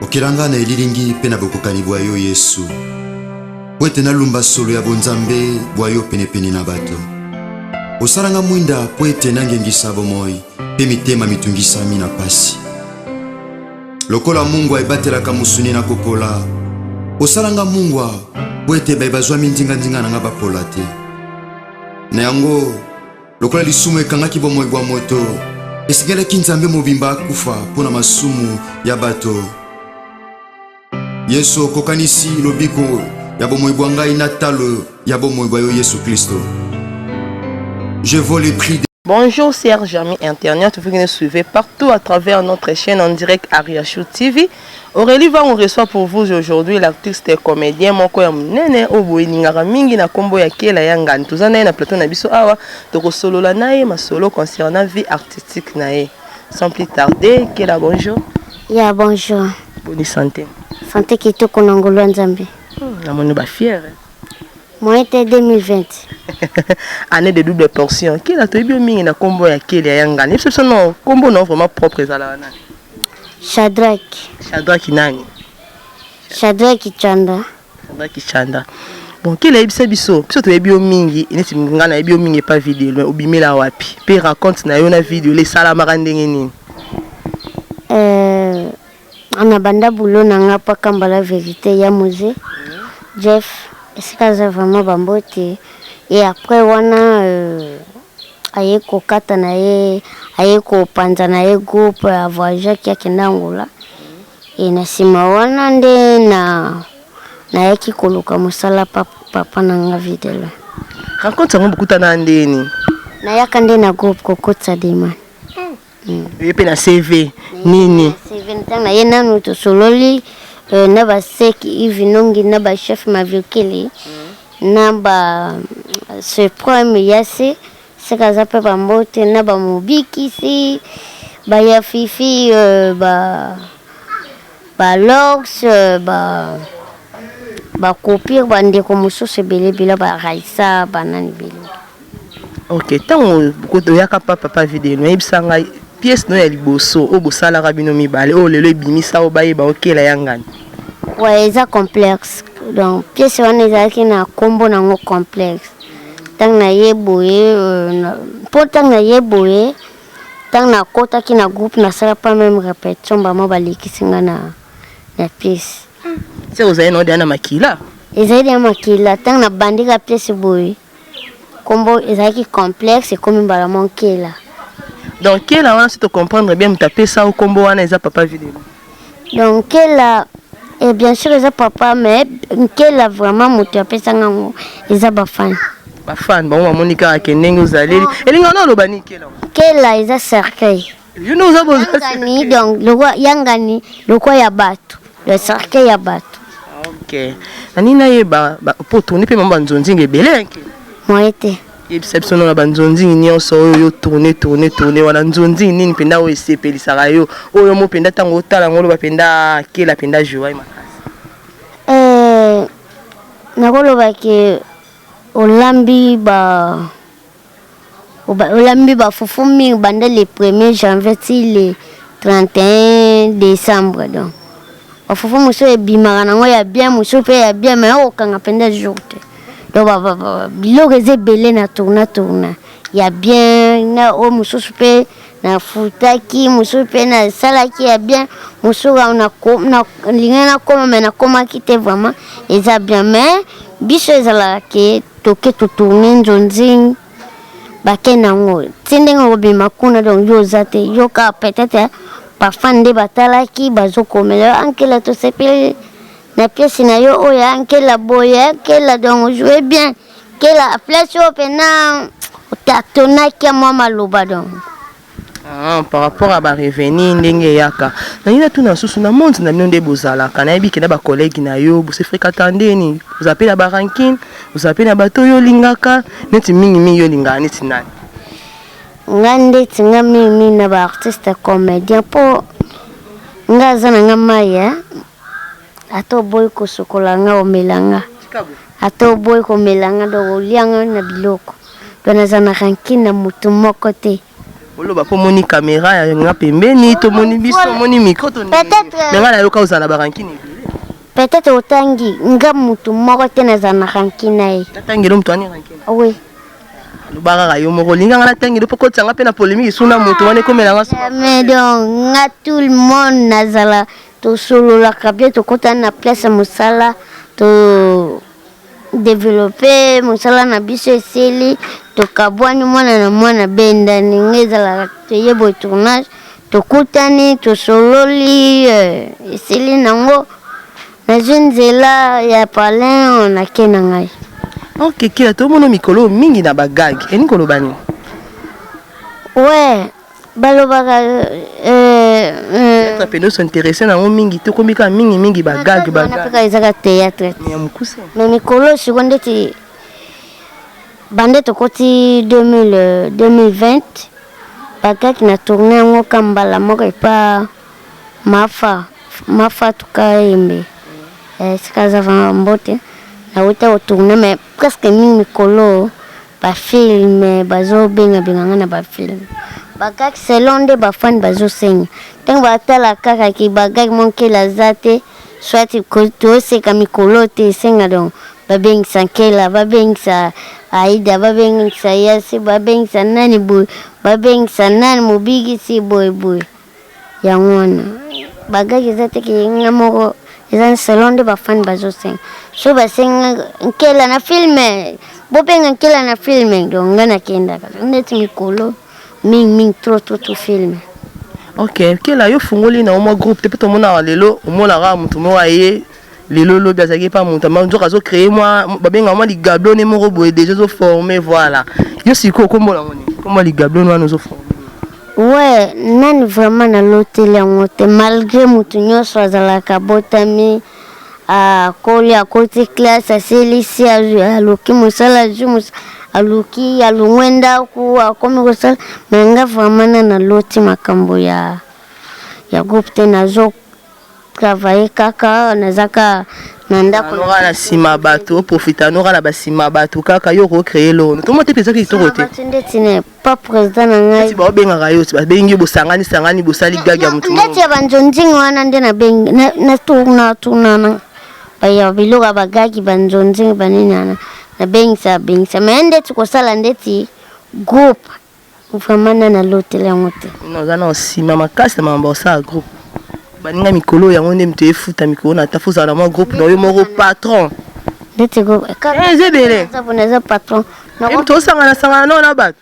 Okela nga na elilingi mpe na bokokani bwa yo Yesu, mpo ete nalumba solo ya bonzambe bwa yo penepene na bato. Osala nga mwinda mpo ete nangengisa bomoi mpe mitema mitungisami na pasi. Lokola mungwa ebatelaka mosuni na kopola, osala nga mungwa mpo ete baye bazwami nzinganzinga na nga bapola te. Na yango Lokola lisumu ekangaki bomoi bwa moto, esengelaki Nzambe mobimba akufa mpo na masumu ya bato. Yesu, okokanisi lobiko ya bomoi bwa ngai na talo ya bomoi bwa yo Yesu Klisto. Je vaux le prix de... Bonjour, Serge Ami Internet, vous nous suivez partout à travers notre chaîne en direct Ariachou TV. Aurelie Vangu reçoit pour vous aujourd'hui l'artiste et comedien moko ya munene oyo boyelingaka mingi na kombo ya Kela ya Ngani. Toza naye na plateau na biso awa tokosolola naye masolo concernant vie artistique naye. Sans plus tarder, Kela bonjour. Ya bonjour. Boni santé. Santé kitoko na ngolu ya Nzambe. Hmm, namoni ba fier. Moyen te 2020. Année de double portion. Kela toyebi yo mingi na kombo ya Kela ya Ngani. Biso biso no kombo no vraiment propre ezalaka nani? Shadraki. Shadraki nani? Shadraki Chanda. Shadraki Chanda. Bon, kele yebisa biso, biso toyebi yo mingi, neti nga nayebi yo mingi epa video, mais obimela wapi? Pe raconte na yo na video le esalamaka ndenge nini? Euh, na banda boulot na nga pa kambala verite ya muse Jeff esika aza vraiment bambote et après wana euh, aye kokata na ye aye kopanza na ye groupe ya voyageaki akende angola e na nsima wana nde na nayaki koluka mosala pa papa na nga videlo rencontre yango bokutana ndeni nayaka nde na groupe kokotisa demande Mm. Oye pe na CV nini? Mm, CV ntanga ye nanu tosololi euh, na ba sec Yves Nongi na ba chef Maviokili mm. na ba euh, Supreme Yase seka aza pe ba mbote na ba mobikisi ba ya fifi euh, ba ba lox euh, ba ba kopir ba ndeko mosusu ebele ebele ba raisa ba nani ebele Ok tango oyaka pa papa video no yebisa ngai pièce no ya liboso oyo bosalaka bino mibale oyo lelo ebimisa yo bayeba yo kela ya ngani. Ouais eza complexe donc pièce wana ezalaki na kombo nango complexe tango na ye boye euh, po tango na ye boye tango nakotaki na groupe nasala pa meme répétition bamo balekisi nga na na pièce. Se ozali na yo deja na makila. Ezali deja makila tango nabandika pièce boye. Kombo ezalaki complexe ekomi mbala moko Nkela. Donc Nkela wana soki to comprendre bien moto apesa yo kombo wana eza papa Vilelu? Donc Nkela eh bien sur eza papa mais Nkela vraiment moto apesa nga ngo eza ba fan. Ba fan bango bamoni kaka ke ndenge ozaleli. Elinga na oloba nini Nkela? Nkela eza cercueil. yangani donc lokwa yangani lokwa ya bato le cercle ya bato ok nani nayeba mpo tourni mpe mama banzonzinga ebele yanke moye te yebisa biso nona banzonzingi nyonso oyo yo tourne tourne tourne wana nzonzingi nini mpenza oyo esepelisaka yo oyo mo mpenza ntango otala yango oloba mpenza kela mpenza joai makasi eh, nakoloba ke olambi ba Olambi ba fufu mingi banda le premier janvier ti le 31 decembre donc ba fufu mosusu ebimaka nango ya bien mosusu mpe ya bien mais okokanga mpenza jour te donc biloko eza ebele na tourna tourna ya bien na oyo mosusu mpe Nafutaki mosusu mpe nasalaki ya bien mosusu nalingai nakoma me nakomaki te vraiment eza bien me biso ezalaka ke toke totourne nzonzing bake nango ti ndenge okobima kuna donc yo oza te yo kaka peut-être parfum nde batalaki bazokomela yo ankela tosepeli na pièce na yo oyo ankela boye ankela donc ojoue bien Kela place oyo pena otatonaki ya mwa maloba donc. Ah, par rapport à ba revenu ndenge eyaka nalingi natuna susu na monde na bino nde bozalaka nayebi ke na bacollègue na yo bose fréquenta ndeni oza mpe na barankine oza mpe na bato oyo olingaka neti mingimingi olingaka neti nani nga ndeti nga mingimingi na baartiste comédien mpo nga aza na nga maya Ata oboyi kosokola nga omela nga ata oboyi komela nga donc olia nga na biloko donc naza na rancune na mutu moko te oloba po moni camera ya nga pembeni to moni biso moni micro to mais nga na yoka ozala ba rancune peut-être otangi nga mutu moko te naza na rancune na ye natangelo mutu ani rancune oui loba kaka yo moko olinga nga natangelo po kotisa nga pe na polémique suna mutu wana ekomela nga mais donc nga tout le monde nazala Tosololaka bien tokota na place ya mosala to developpe mosala na biso esili tokabwani mwana na mwana abendani nga ezalaka toye boye tournage tokutani tosololi eh, esili nango nazwi nzela ya palin oyo nake na ngai ok kila tomona mikolo oyo mingi na bagage elingi koloba nini we balobaka théâtre mpe ndoso interesse nango mingi te okomi kaka mingi mingi bagag bagag ezaka théâtre ya mokuse mais mikolo siko ndeti bande tokoti 2020 euh, bakaki na tourne yango ka mbala moko epa mafa mafa tukayembe esika eh, aza vanga mbote nauta kotourne mais Presque mingi mikolo ba film bazo benga benga nga na ba film ba gag selon nde ba fan bazo senga tango ba tala kaka ki ba gag mon kela aza te soit to seka mikolo te senga donc ba bengisa nkela ba bengisa aida ba bengisa yasi ba bengisa nani boye ba bengisa nani mobikisi boye boye Yango wana ba gag eza te ke nga moko eza selon nde ba fan bazo senga so ba senga nkela na film bo benga nkela na film donc nga na kenda kaka neti mikolo mingi mingi trop trop trop film Ok, nkela yo fungoli na yo mwa groupe te pe tomona lelo omona kaka mutu moko aye Lelo lobi azalaki epa moto ma nzoka azo cree mwa babengaka mwa ligablone moko boye deja ezo forme voilà yo sikoyo nkombo nango nini nkombo ya ligablone wana ozo forme we nani vraiment naloteli yango te malgré moto nyonso azalaka abotami akoli akoti classe asilisi aluki mosala azwi mosala aluki alongwe ndako akomi kosala me nga vraiment na naloti makambo ya ya groupe te nazo travailler kaka naza ka na ndako noka na sima batu o profita noka na ba sima batu kaka yo ko créer lono to mote pesa kitoko te batu ndeti ne pas président na ngai ti ba benga ka yo ti ba bengi bo sangani sangani bo sali gaga mutu ndeti ya ba njonjing wana nde na bengi na na tourna tourna na ba ya biloko ba gagi ba njonjing ba nini na na bengisa bengisa mais ndeti ko sala ndeti groupe Vraiment na na lotela yango te. Oza na osima makasi na makambo osala groupe. Baninga mikolo yango nde mito efuta mikolo na tafu za na mwa groupe na yo moko patron. Ndete go. Eh zebele. Za bona za patron. Na ko to sanga na sanga na na bato.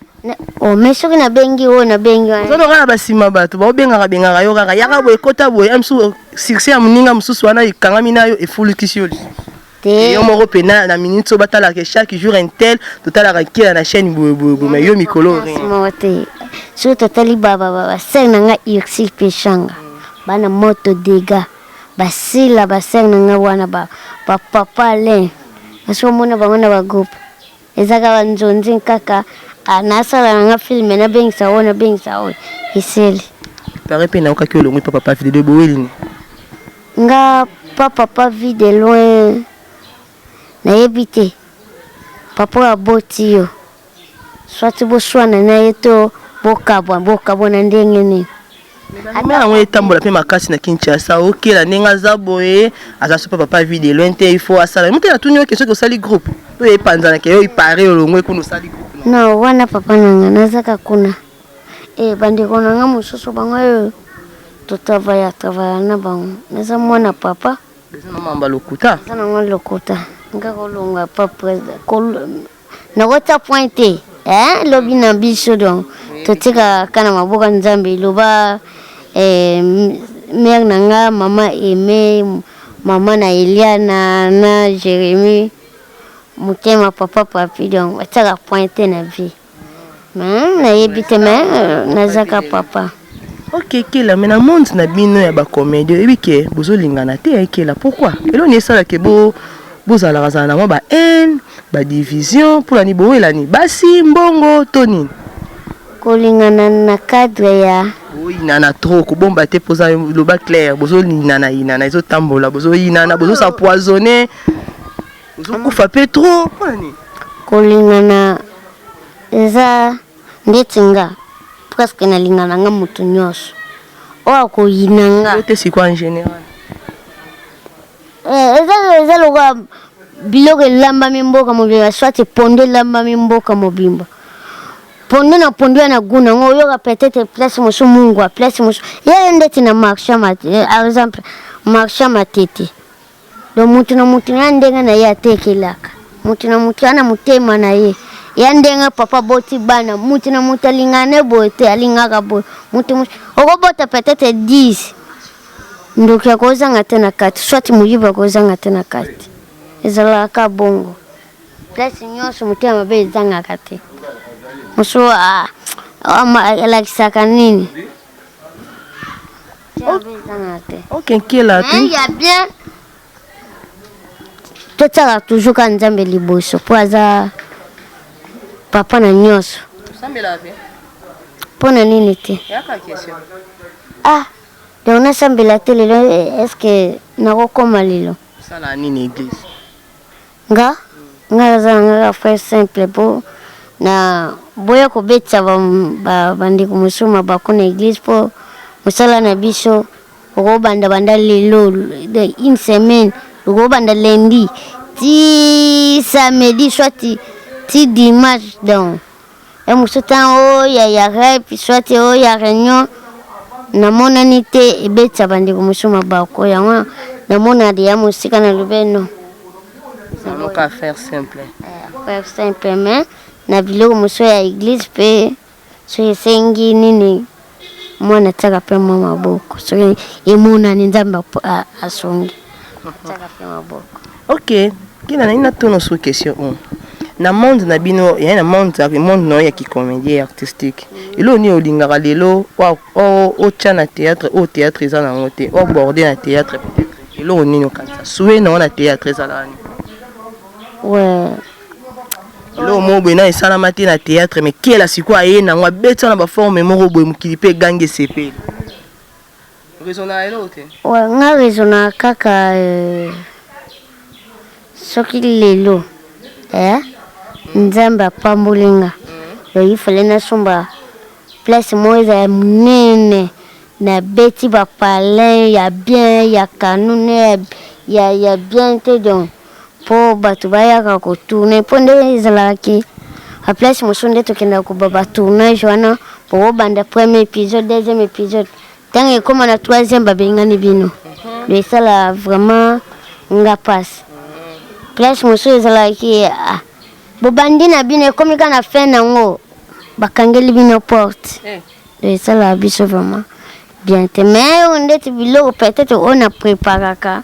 Oh mais soki na bengi oyo na bengi wana. Zono kala basima bato ba obengaka bengaka yo kaka yaka boye kota boye amsu succès ya muninga mususu wana ikangami nayo efulukisi yo. te yo moko pe na na minute so batala ke chaque jour un tel totalaka nkela na chaîne boye boye boye mais yo mikolo rien moko te soki totali basere na nga ursil peshanga bana moto dega basila basere na nga wana bapapa alain basi omona bango na bagroupe Eza kaka nzonzi kaka ah, nasala na nga filme nabengisa oyo nabengisa oyo eseli pare mpe naokaki olongwi papa pa video boweline nga pa papa vie de loin nayebi te papa oyo aboti yo swati boswana na ye to bokabwa bokabwa na ndenge nini Ame yango etambola pe makasi na Kinshasa. OK, la ndenge aza boye, aza super papa vie de loin te, il faut asala. Mutu na tuni yo question que osali groupe. To epanzana ke yo il paraît olongwe kuna osali groupe. Na wana papa na nga nazaka kuna. Eh bandeko na nga mosusu bango oyo to travaya travaya na bango. Naza mwana papa. Eza na mamba lokuta. Eza na mwa lokuta. Nga kolonga pa president. nakotia point te eh, lobi na biso donc totikaka na maboko ya nzambe loba eh, mare na nga mama aime mama na eliana na jérémie motema papa papi donc batiaka point te na vie nayebi te me nazaka papa Ok kela mais na monde na bino ya ba comedie oyebi ke bozo lingana te hein kela pourquoi eloko nini esala ke bo bozalaka zala na mwa ba haine ba division pona ni bowelani basi mbongo to nini kolingana na cadre ya oyinana trop kobomba te mpoza loba claire bozolinana yinana ezotambola bozoyinana bozosa poisonne bozokufa mpe trop mpona nini kolingana eza Ndeti nga presque na linga na nga mutu nioso oyo ako yina nga. Yo te sikoyo en general. Eh eza eza lokola biloko elambami mboka mobimba soit pondu elambami mboka mobimba pondu na pondu ya na gout nango oyoka peut-être place mosusu mungwa place mosusu ye ye ndeti na marche ya par exemple marche ya matete Donc mutu na mutu na ndenge na ye atekelaka, mutu na mutu ana motema na ye ya ndenge papa boti bana mutu na mutu alingaka ne boye te alingaka boye mutu okobota peut-être 10 ndoki akozanga te na kati soit moyibi akozanga te na kati ezalaka bongo place nyonso motema mabe ezangaka te mosusu alakisaka nini okenkela te ya bien totyaka toujours kaka nzambe liboso mpo aza papa na nyonso mpo na nini te ah donc nasambela te lelo eh, estce nakokoma lelo sala nini eglise Nga nga naza na nga ka frère simple po na boya kobetisa ba, ba, ba ndeko mosusu mabaku na eglise po mosala na biso okobanda banda lelo de une semaine okobanda lundi ti samedi soit ti dimanche donc ya mosusu ntango oya ya rep swate oya reunion namonani te ebetisa bandeko mosusu mabako yango namona deya mosika na lobe no saloka affaire simple eh, affaire simple mais na biloko mosusu ya eglise mpe soki esengi nini Mwana atiaka pe mwa maboko soki emonani Nzambe asungi. Atiaka pe maboko. Ok, kina na ina tono sur question oyo. Na monde na bino, ya na monde, monde na ya ki comédien artistique. Elo ni olingaka lelo wa o o tia na théâtre, o théâtre eza na ngote, o borde na théâtre peut-être. Elo ni no kanisa. Souhait na wana théâtre eza la. Ouais. eloko moko boye na esalama te na théâtre mais kela sikoyo aye nango abeti wana baforme moko boye mokili mpe egangi esepeli rezonaka eloko te ouais, nga rezonaka kaka euh, soki lelo eh, nzambe apamboli nga donc il fallait nasomba place moko ezala monene nabeti bapalin ya bien ya kanune ya, ya, ya bien te donc po batu bayaka ko tourner po nde ezalaka ke a place mosusu nde tokendaka koba ba tournage wana bokobanda premier épisode deuxième épisode ntango ekoma na troisième babengani bino do esala vraiment nga pasi place mosusu ezalaka ke ah, bobandi na bino ekomi kaka na fin nango bakangeli bino porte eh. do esalaka biso vraiment bien te mais oyo ndeti biloko peut-être oyo na preparaka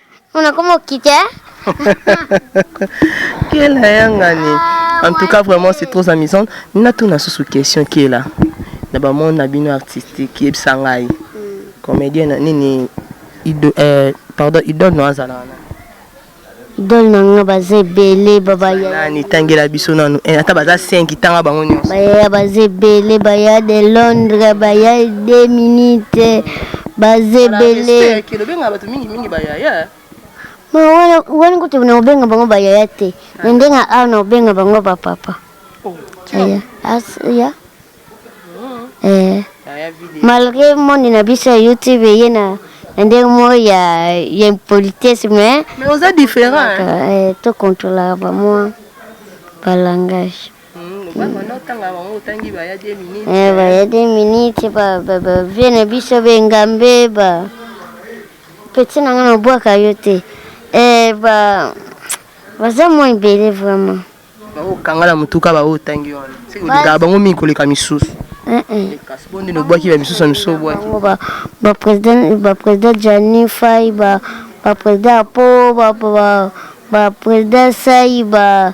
Muna komo kite. Kela yangani. Ah, en tout cas vraiment c'est trop amusant. Nina tuna susu question kela. Na ba monde na bino artistique yebisa ngai. Hmm. Comédien na nini ido euh pardon idole no azala wana. Idole na nga baza ebele baba ya. Nani tangela biso nanu. Eh, ata baza 5 tanga bango nyonso. Baya baza ebele baya de Londres baya 2 minutes baza ebele. mingi ba yaya eh. Ma wana wana kutu na obenga bango ba yaya te. Ah. Na ndenga awa na obenga bango ba papa. Oh. Yaya. As ya. Mm. Eh. Malgré monde na biso ya YouTube ye na na ndenge moko ya ya impolitesse mais. Mais oza différent. Eh, to contrôlaka ba mwa ba langage. baya de minute bavie na biso bengambe ba peti na nga nabwaka yo te eh, baza mwa ebele vraiment bakokanga na motuka baoyo otangi wana olingaka bango mingi koleka misusu eh, eh. kasi bonde nobwaki ba misusu ya misusu obwaki baprésident jani fai baprésident apo baprésident sai ba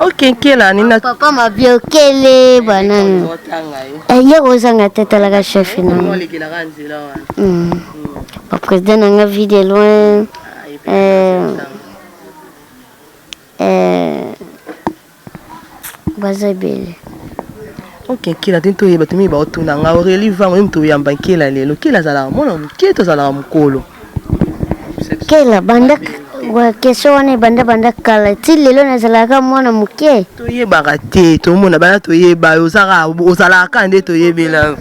Ok nkela nina. Papa mabiokele banani. Aye kozanga te talaka chef na. Hmm. Ba président na nga vie de loin. Euh, euh, baza ebele oke nkela te ntoyeba tomiyi baotuna nga aurelie vango ye moto oyamba nkela lelo nkela azalaka mwana moke to azalaka mokolo kela banda question wana ebanda banda kala ti lelo nazalaka mwana moke toyebaka te tomona bana toyeba yo ozaka ozalaka nde toyebela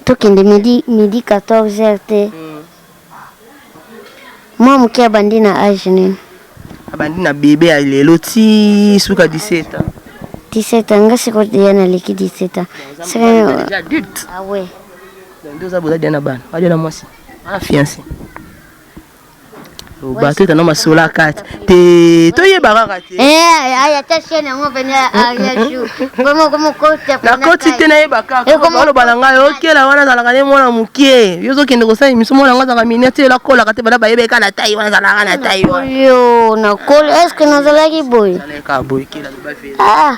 tokende midi midi 14 heures te mm. Mwa moke abandi na age nini? Abandi na bebe ya lelo ti suka 17 ans. 17 ans nga siko deja naleki 17 ans. Sika deja adulte. Ah ouais. Ndio za boza deja na bana. Ba deja na mwasi. Ana fiancé. bateta no masola kati te toyeba kaka te eh, aya ta chaine yango pene aria jour vraiment comme kote na koti te nayeba kaka eh, oloba na ngai okela wana azalaka nde mwana mokie yo ozokende kosala émission mwana yango azalaka mini ati ela kolaka te bana bayeba eka na tai wana azalaka na tai wana yo nakoli est ce que nazalaki boye ah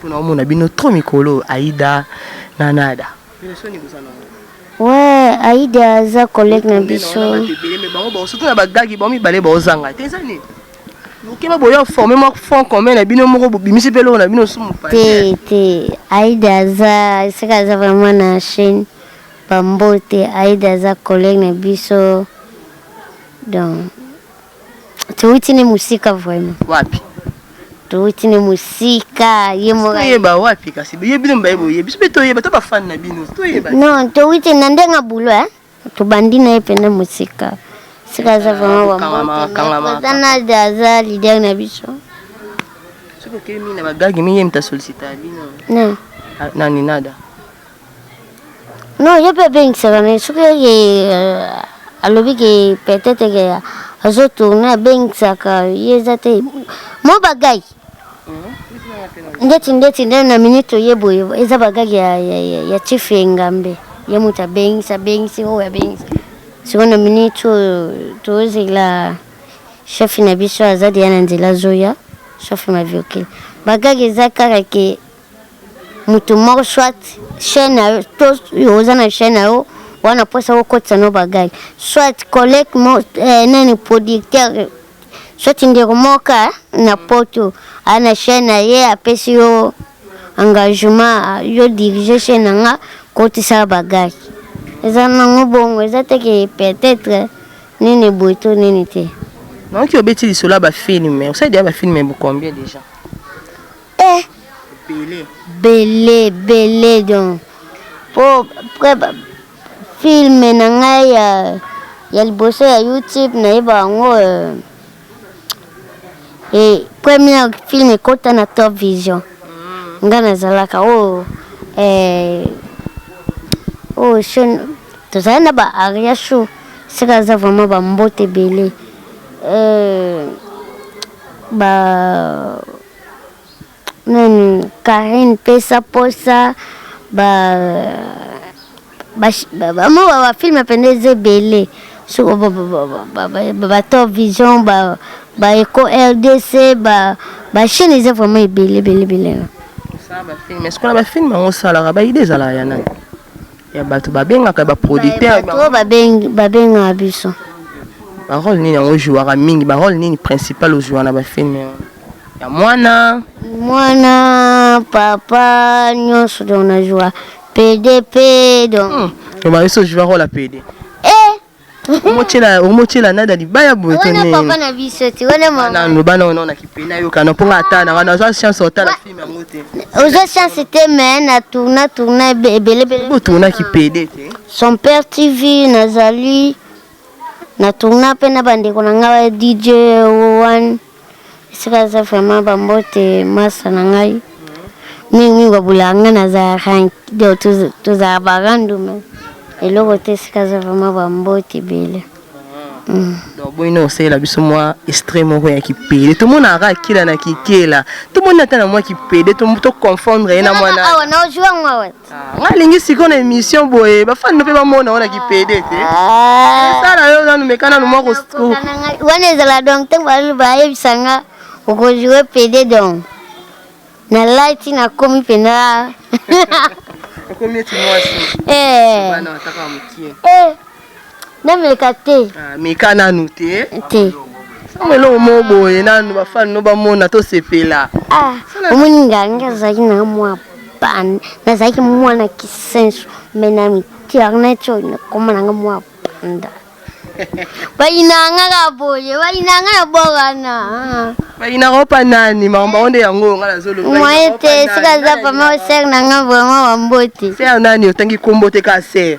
Pona omona bino trop mikolo oyo Aida na Nada. Ouais Aida aza collègue na biso. Surtout na ba gagi bango mibale bao zanga te eza nini? Bokeba boya forme mwa fond commun na bino moko bobimisi pe eloko na bino sumu pasi. Te te Aida aza seka aza vraiment na chaîne ba mbote Aida aza collègue na biso donc Towuti ne musika vraiment. Wapi? Towuti ne musika ye moko. Toyeba wapi kasi ye bino mbaye boye biso pe toyeba to ba fan na bino toyeba. Non towuti na ndenga bulo eh. Tobandi na ye pene musika. Sika aza vraiment wa moto. Kangama kangama. Aza leader na biso. Soki okemi na bagagi mingi mta sollicita bino. Non. Ah, nani nada? Non, ye pe abengisaka mais soki ke euh, alobi ke peut-etre ke azo tourner abengisaka ye eza te. Mo ba gag. Ndeti ndeti nde na minute oye boye eza ba gag ya ya ya, ya chief Engambe. Ye mutu abengisi abengisi oyo abengisi. Siko na minute oyo tozela chef na biso aza deja na nzela azoya sauf maviokele. Ba gag eza kaka ke mutu moko soit chaîne na yo to yo oza na chaîne na yo wana posa okotisa no bagage soit collègue mo eh, nani producteur soit ndeko moka na poto a na chaîne na ye apesi yo engagement yo dirige chaîne na nga kotisa bagage eza nango bongo eza te ke peut-être nini boye to nini te naoki obeti lisolo ya bafilme osali deya bafilme bokombie déjà Eh. Bele. Bele bele donc. Po après ba film na ngai ya ya liboso ya YouTube nayeba yango euh, eh, première film ekota na Top Vision. Mm. Nga nazalaka oh eh oh shon tozali na ba aria show sika aza vraiment ba mbote ebele. Euh, ba Nani Carine pesa posa ba bamo ba ba film pende eza ebele soko ba ba ba ba top vision ba ba eco rdc ba ba chaîne eza vraiment ebele ebele ebele ça ba film est-ce qu'on ba film ngo salaka ba idée ezala ya nani ya bato babengaka ba producteur bato babengi babengaka biso ba rôle nini yango jouaka mingi ba rôle nini principal ojoua na ba film ya mwana mwana papa nyonso donc na joua pede pe donc hmm. loba biso joua kola pede eh. omotyela nada libaya boyewana lobana wana na kipena yokana mpo nga ata na wana oza chance otala filme yango te oza chance te me na tourna tourna ebelebele botourna kipede te son père tv nazali na tourna mpe na bandeko na ngai dj one Esika aza vraiment ba mbote masta na ngai mingi mingi babulaka ngai naza ya rank donc tozala ba random eloko te esika aza vraiment ba mbote ebele mm. donc boyina osalela biso mwa extrait moko ya kipede tomonaka akila na kikela tomoni ata na mwa kipede toconfondre ye na mwana awa naojuango awa Ah, nga lingi siko na emission boye bafani no mpe bamona ona kipede te ah. esala yo nanu meka nanu mwa wana ezala donc ntango balali bayebisa nga okojoue pede donc nalati nakomi mpenza okomi eti mwasi eh. bana bataka mokie eh. nameka te ah, meka nanu te te sanga eloko moko boye nanu bafani no bamona tosepela ah, omoni nga nga azalaki na mwa bana nazalaki mwana kisenso me na mitiarnet oyo nakoma nanga mwa banda bayinanga ka boye bayinanga na borana bayinaka opa nani makambo bango nde yango oyo nga nazolobamoye te soki aza pama osere na nga vraimen bambote sere nani otangi kombo te ka sere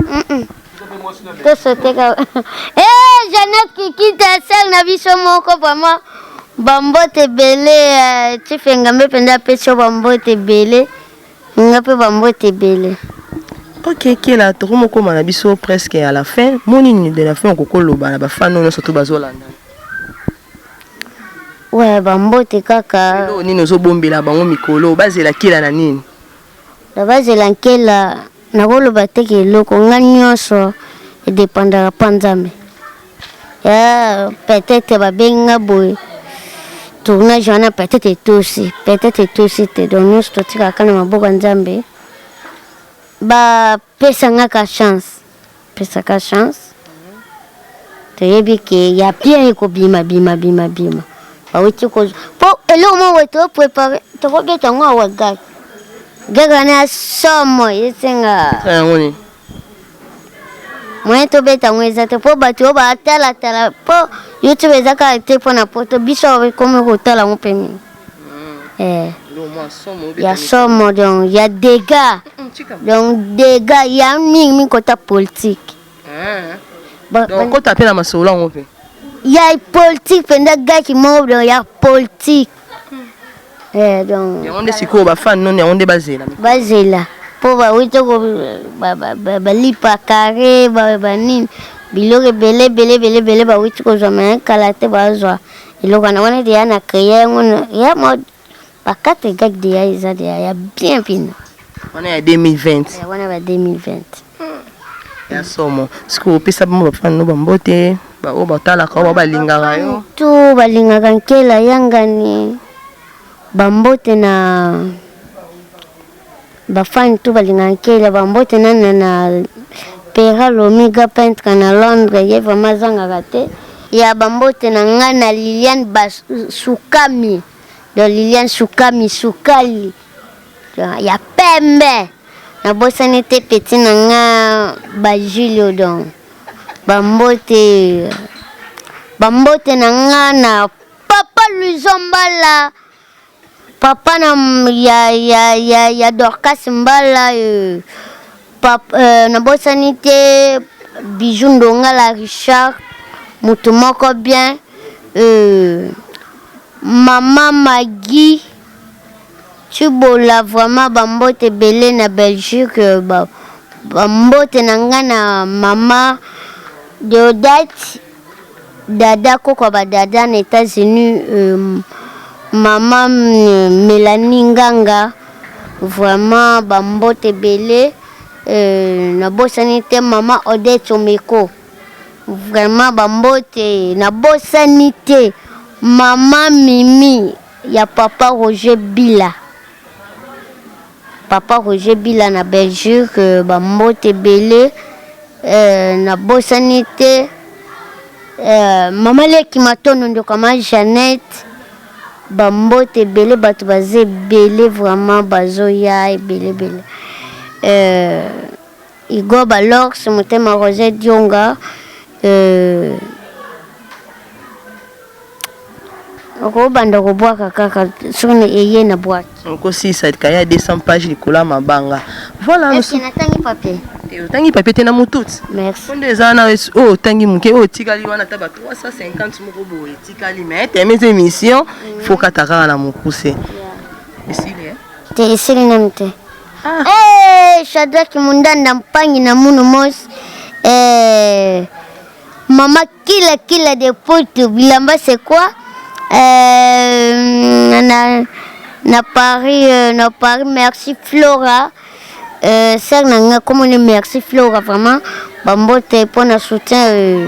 tosoteka e jeannette kikita sel na biso moko vraiment bambote ebele eh, chief engambe mpenza apesi yo bambote ebele nga mpe bambote ebele ok kela toko mokoma na biso presque à la fin moni nini de la fin okoki oloba na bafano nyonso to bazolanda we bambote kaka nini ozobombela bango mikolo bazela kela na nini Na bazela nkela nako loba te ke eloko nga nionso e dependaka pa nzambe ya peut etre ba bengi nga boye tournage wana peut etre etosi peut etre etosi te donc nionso totikaka na maboko ya nzambe ba Pesa nga ka chance. Pesa ka chance. Toyebi ke ya bien ekobima bima bima bima. Bawuti ko po eloko moko boye to prepare tokobeta yango awa gag. Gag wana ya somo esenga. Yango nini? moyen tobeta yango eza te mpo bato oyo batalatala mpo youtube eza kaka te mpo na poto biso ekomi kotala yango mpe mingi Eh. Ya somo donc ya dega donc dega ya mingi mingi kota politique. Eh. Donc kota mpe na masolo yango mpe. Ya politique mpenza gaki moko donc ya politique. Eh donc. Yango nde sikoyo ba fan non yango nde bazela. Bazela mpo bawuti ko balipa carré ba nini biloko ebele ebele ebele ebele bawuti kozwa me kala te bazwa. eloko wana wana deya na créer yango ya mode bakate gag deya eza deya ya bien mpina wana ya 2020 ya wana ba 2020 ya somo sikoyo opesa bango bafani no bambote baoyo batalaka oyo balingaka yo to balingaka nkela yangani bambote na Ba fan tout balinga nkele ba mbote na na na Pera Lomiga peintre na Londres ye vraiment azangaka te. Ya ba mbote na nga na Liliane ba sukami donc Liliane sukami sukali ya pembe na bosani te petit na nga ba Julio donc ba mbote ba mbote na nga na papa Luizombala Papa na ya ya ya, ya Dorcas Mbala euh, papa euh, nabosani te Bijou Ndongala Richard mutu moko bien euh, mama Maggie Chibola vraiment bambote ebele na Belgique euh, ba, bambote na ngai na mama Deodate Dada koko ya ba dada na etats unis maman Melanie nganga vraiment ba mbote ebele na bosani te maman Odette Someko vraiment ba mbote na bosani te maman Mimi ya papa Roger Bila. Papa Roger bila na Belgique ba mbote ebele na bosani te maman leki matondo ndoka ma Jeannette ba mbote ebele bato baza ebele vraiment bazoya ebele ebele euh, Igor Balorx motema Rose Dionga euh, okobanda kobwaka kaka soni eye na bwaki okosilisa kaye ya 200 page likolo ya mabanga voilà natangi papier te otangi papier te na motuti nde eza wana oyo oh, otangi moke oyo oh, otikali wana ata ba 350 moko boye etikali mais teme eza émission fokata kaka na mokuse esili eh? te esili nanu te Ah. Hey, eh, Shadrach Mundanda Mpangi na Munu Mos. Eh, mama kila kila de Porto bilamba c'est quoi? Eh, na, na Paris euh, na Paris merci Flora. Euh, sœur nanga comme on est merci Flora vraiment. Bambote pour na soutien euh,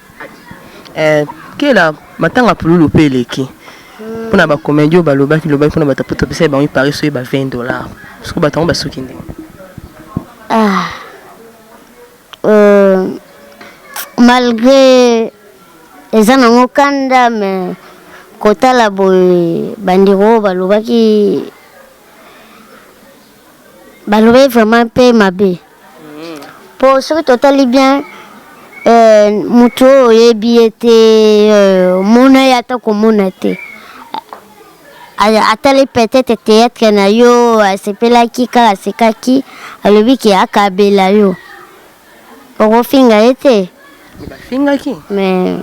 Eh kela matanga pululu pe eleki pona ba comedien oyo balobaki lobaki pona batu poto pesaki bango ipari soki ba 20 dollars siko batu yango basuki ndenge nini ah euh, malgre eza nango kanda me kotala boye bandeko oyo balobaki Balobaki vraiment pe mabe. Po soki totali bien euh, mutu oyo oyebi ye te, euh, mona ye ata komona te. Atali peut-être theatre na yo, asepelaki kaka asekaki, alobi ke akabela yo. Okofinga ye te. Bafingaki. Mais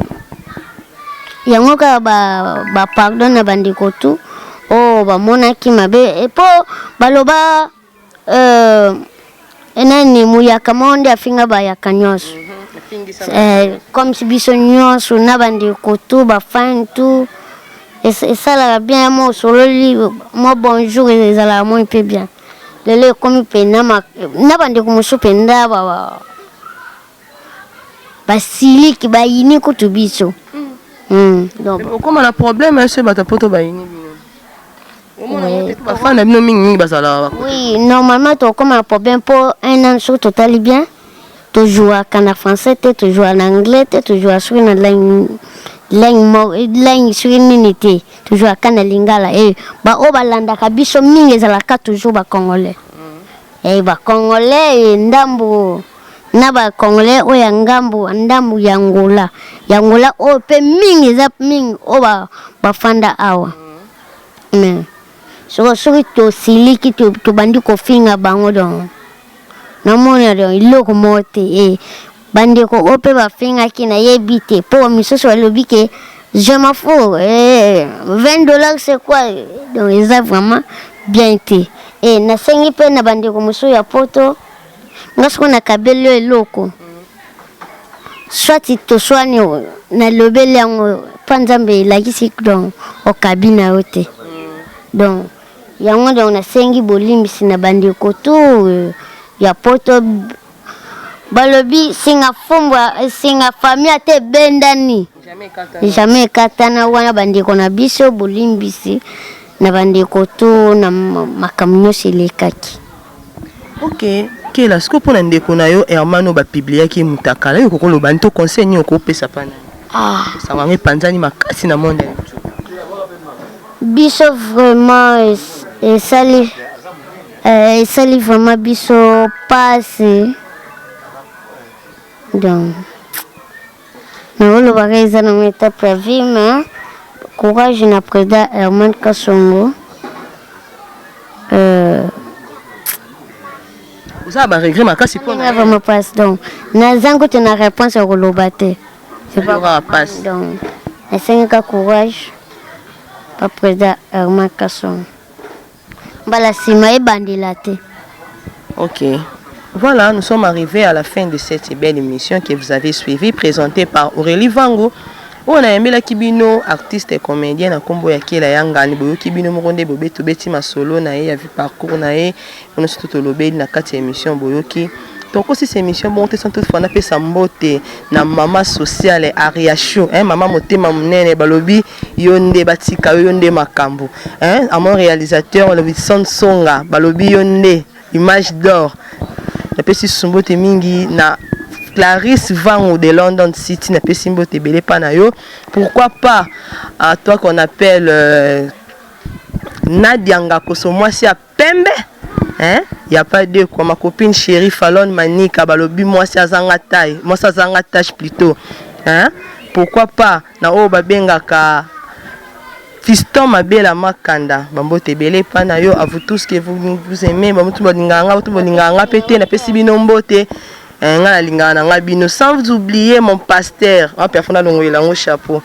yango kaka ba, ba pardon na bandeko tout oyo oh, bamonaki mabe epo eh, baloba euh, nani muyaka moko nde afinga bayaka nyonso mhm, eh, comme si biso nyonso na bandeko tu bafani tu esalaka bien mwa osololi mwa bonjour ezalaka moi mpe bien lelo ekomi mpe na bandeko mosusu mpenza basiliki bayini kutu biso hmm. hmm, okoma na problème ese bato poto bayini bafana bino mingi mingi bazalaka oui normalement tokoma na problème mpo un an soki totali bien To jouaka na français te, to joua na anglais te, to joua soki na langue langue mo langue soki nini te, to jouaka na lingala et eh, ba oyo balandaka biso mingi ezalaka toujours ba congolais. Mm. Et eh, ba congolais et eh, ndambo na ba congolais oyo ya ngambo ndambo ya Angola. Ya Angola oyo pe mingi eza mingi oyo ba bafanda awa. Mm. Mais soki soki tosiliki tobandi kofinga bango donc namoni alio iloko moko te e eh, bandeko oyo mpe bafingaki nayebi te mpo misusu balobi ke je m'en fous eh, 20 dollars c'est quoi donc eza vraiment bien te e eh, nasengi mpe na bandeko mosusu ya poto nga soko nakabeli yo eloko swati toswani nalobeli yango mpo nzambe elakisi donc okabi na yo te donc Yango donc nasengi bolimbisi na bandeko tout ya poto balobi singa fumbwa singa famille ata ebendani jamais ekatana wana bandeko na biso bolimbisi na bandeko to na makambo nyonso elekaki Ok kela sikoyo pona ndeko na yo Herman oyo ba publiaki ye mutakala yo okoki oloba nini to conseil nini okoki opesa epa naye? Sango yango epanzani makasi na monde ya YouTube. Biso vraiment esali esali vraiment biso pasi donc. Mais olobaka eza na ngo etape ya vie mais courage na president Herman Kasongo euh, oza na baregret makasi mpo na vraiment mpasi donc nazangi kutu na réponse ya koloba te mpasi donc nasengaka courage bapresident herman kasongo Mbala sima ebandela te. Ok. Voilà, nous sommes arrivés à la fin de cette belle émission que vous avez suivie, présentée par Aurélie Vango. oyo nayembelaki bino artiste et comédien na nkombo ya kela ya ngani boyoki bino moko nde bobe tobeti masolo na ye ya vie parcours na ye ono soto tolobeli na kati ya émission boyoki tokosisa émission bongo te sans toutefois napesa mbote na mama sociale ariacho eh, mama motema monene balobi Yonde batika yo yonde makambu hein à mon réalisateur olobi son songa balobi yonde image d'or napesi sumbote mingi na Clarisse Vangu de London City na pesi mbote ebele pa na yo pourquoi pas à toi qu'on appelle euh, Nadia Ngakoso mwasi ya pembe hein y a pas deux quoi ma copine chérie Falon Manika balobi mwasi azanga taille mwasi azanga tache plutôt hein pourquoi pas na oyo babengaka Fiston Mabela Makanda bambote ebele epa na yo à vous tous que vous, vous aimez bamutu balingaka nga batu balingaka nga pe te napesi bino mbote eh, nga nalingaka na nga bino sans oublier mon pasteur en perfond alongolela yango chapeau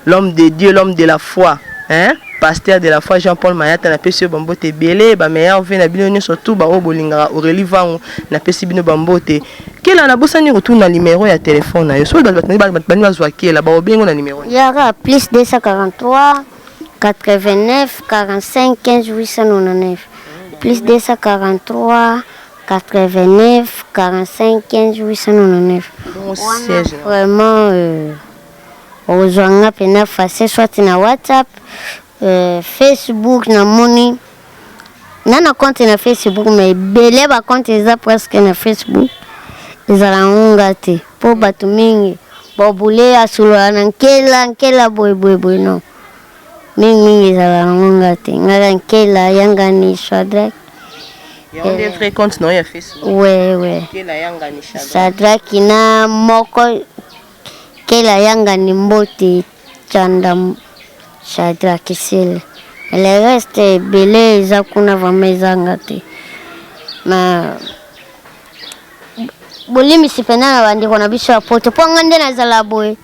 L'homme de Dieu, l'homme de la foi hein pasteur de la foi Jean Paul Mayata na pesi yo ba mbote ebele ba meilleurs vœux na bino nionso tout ba oyo bolingaka Aurelie Vangu na pesi bino ba mbote kela na bosani kotuna numero ya telephone na yo soki bato bato bato bani bazwa kela ba obengo na numero nini? Yaka plus 243 89 45 15 899 plus 243 89 45 15 899 Bon, wana siège. vraiment euh, Okozua nga pena face soit na WhatsApp, euh, Facebook na moni nga na compte na Facebook mais ebele ba compte eza presque na Facebook ezala yango nga te po bato mingi bobule asolola na nkela nkela boye boye boye non mingi mingi ezala yango nga te ngaka nkela yangani shadrack yango nde vrai compte na yo ya facebook we we shadrack na moko Kel ayangani mbote tshanda Shadrack Sele mais le reste ebele eza kuna vraiment ezanga te mais bolimbisi mpenza na bandeko na biso ya poto mpo nga nde nazala boye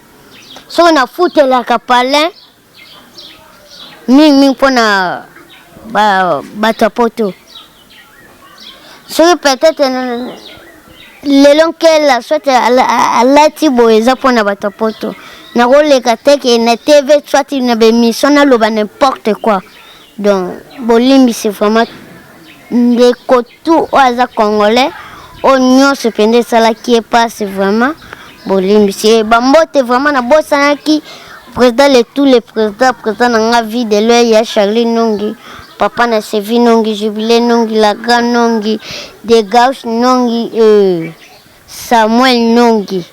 soki nafutelaka palin mingi mingi mpo na bato ya poto soki peut-être lelo nkela soit alati boye eza mpo na bato ya poto nakoleka teke na tv soit na bemission naloba n'importe quoi donc bolimbisi vraiment ndeko Tu oyo aza congolais oyo nyonso mpenza esalaki ye mpasi vraiment bolimbisi ye bambote vraiment nabosanaki président le tout le président président na nga vie de loi ya charlie nongi papa na sevi nongi jubile nongi lagra nongi de gauche nongi euh. Samuel Nongi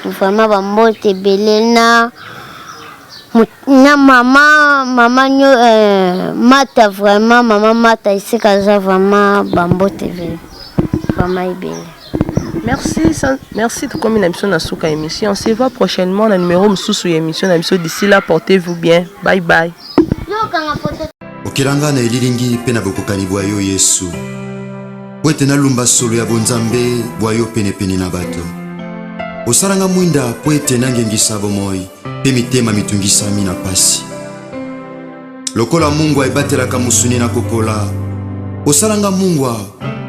vraiment ba mbote ebele na na mama mama nyo euh, mata vraiment mama mata esika aza vraiment ba mbote ebele vraiment ebele Merci, merci de comme émission na suka émission. On se voit prochainement na numéro mususu ya émission na biso. D'ici là, portez-vous bien. Bye bye. Okilanga na elilingi mpe na bokokani bwa yo Yesu. mpo ete nalumba solo ya bonzambe bwa yo penepene na bato. Osala nga mwinda mpo ete nangengisa bomoi mpe mitema mitungisami na pasi. Lokola mungwa ebatelaka mosuni na kopola, osala nga mungwa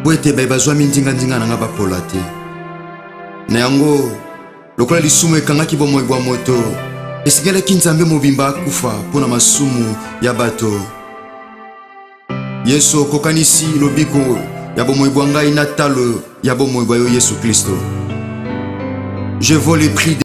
mpo ete baye bazwami nzinganzinga na nga bapola te. Na yango, lokola lisumu ekangaki bomoi bwa moto, esengelaki Nzambe mobimba akufa mpo na masumu ya bato. Yesu, okokanisi lobiko ya bomoi bwa ngai na talo ya bomoi bwa yo Yesu Klisto. Je vaux le prix de